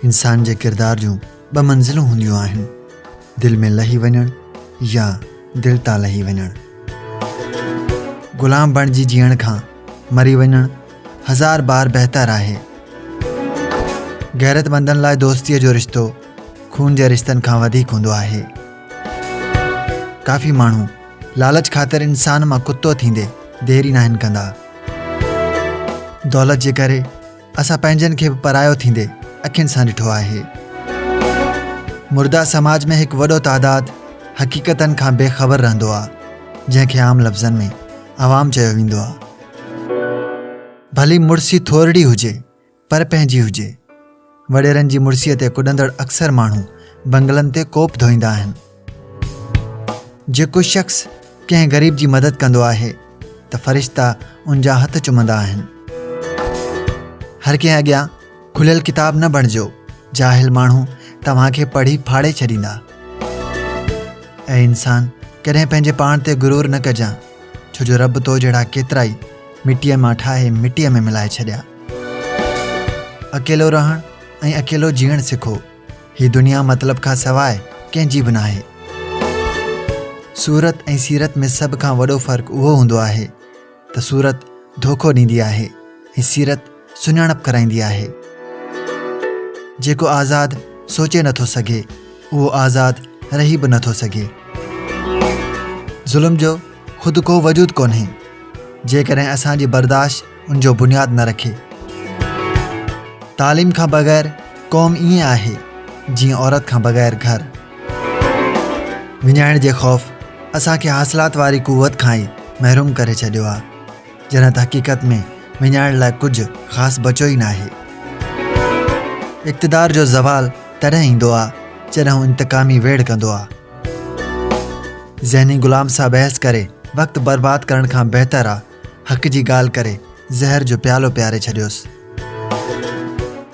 انسان جي ڪردار جون ٻه منزلون هونديون آهن، دل ۾ لهي وڃڻ يا دل تان لهي وڃڻ. غلام بڻجي جيئڻ کان مري وڃڻ هزار بار بهتر آهي. غيرتمندن لاء دوستيء جو رشتو خون جي رشتن کان وڌيڪ هوندو آهي. ڪافي ماڻهو لالچ خاطر انسان مان ڪتو ٿيندي ديري ناهن ڪندا. دولت جي ڪري اسان پنهنجن کي به پرايو ٿيندي اکين سان ڏٺو آهي مردا سماج ۾ هڪ وڏو تعداد حقيقتن کان بي خبر رهندو آهي جنهن کي عام لفظن ۾ عوام چيو ويندو آهي ڀلي مڙسي ٿورڙي هجي پر پنهنجي هجي. وڏيرن جي مڙسيء تي ڪڏندڙ اڪثر ماڻهو بنگلن تي ڪوپ ڌوئيندا آهن. جيڪو شخص ڪنهن غريب جي مدد ڪندو آهي ته فرشتا ان جا هٿ چمندا آهن. هر ڪنهن اڳيان کليل ڪتاب نه بڻجو، جاهل ماڻهو توهان کي پڙهي ڦاڙي ڇڏيندا. اي انسان! ڪڏهن پنهنجي پاڻ تي غرور نه ڪجان. ڇو جو رب تو جهڙا ڪيترائي مٽيء مان ٺاهي مٽيء ۾ ملائي ڇڏيا. اڪيلو رهڻ ۽ اڪيلو جيئڻ سکو، هي دنيا مطلب کان سواء ڪنهن جي به ناهي. صورت ۽ سيرت ۾ سڀ کان وڏو فرق اهو هوندو آهي ته صورت ڌوڪو ڏيندي آهي ۽ سيرت سڃاڻپ ڪرائيندي آهي. جيڪو آزاد سوچي نه ٿو سگهي، اهو آزاد رهي به نه ٿو سگهي. ظلم جو خود ڪو وجود ڪونهي، جيڪڏهن اسان جي برداشت ان جو بنياد نه رکي. تعليم کان بغير قوم ائين آهي، جيئن عورت کان بغير گهر. وڃائڻ جي خوف اسان کي حاصلات واري قوت کان ئي محروم ڪري ڇڏيو آهي. جنھن ته حقيقت ۾ وڃائڻ لاء ڪجهه خاص بچيو ئي ناهي. اقتدار جو زوال تڏهن ايندو آ جڏهن هو انتقامي ويڙهه ڪندو آ. ذهني غلام سان بحث ڪري وقت برباد ڪرڻ کان بهتر آ حق جي ڳالهه ڪري زهر جو پيالو پياري ڇڏيوس.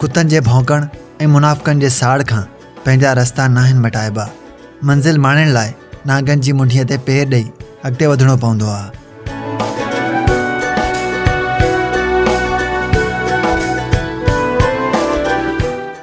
ڪتن جي ڀونڪڻ ۽ منافقن جي ساڙ کان پنهنجا رستا ناهن مٽائبا، منزل ماڻڻ لاء نانگن جي منڍيء تي پير ڏئي اڳتي وڌڻو پوندو آهي.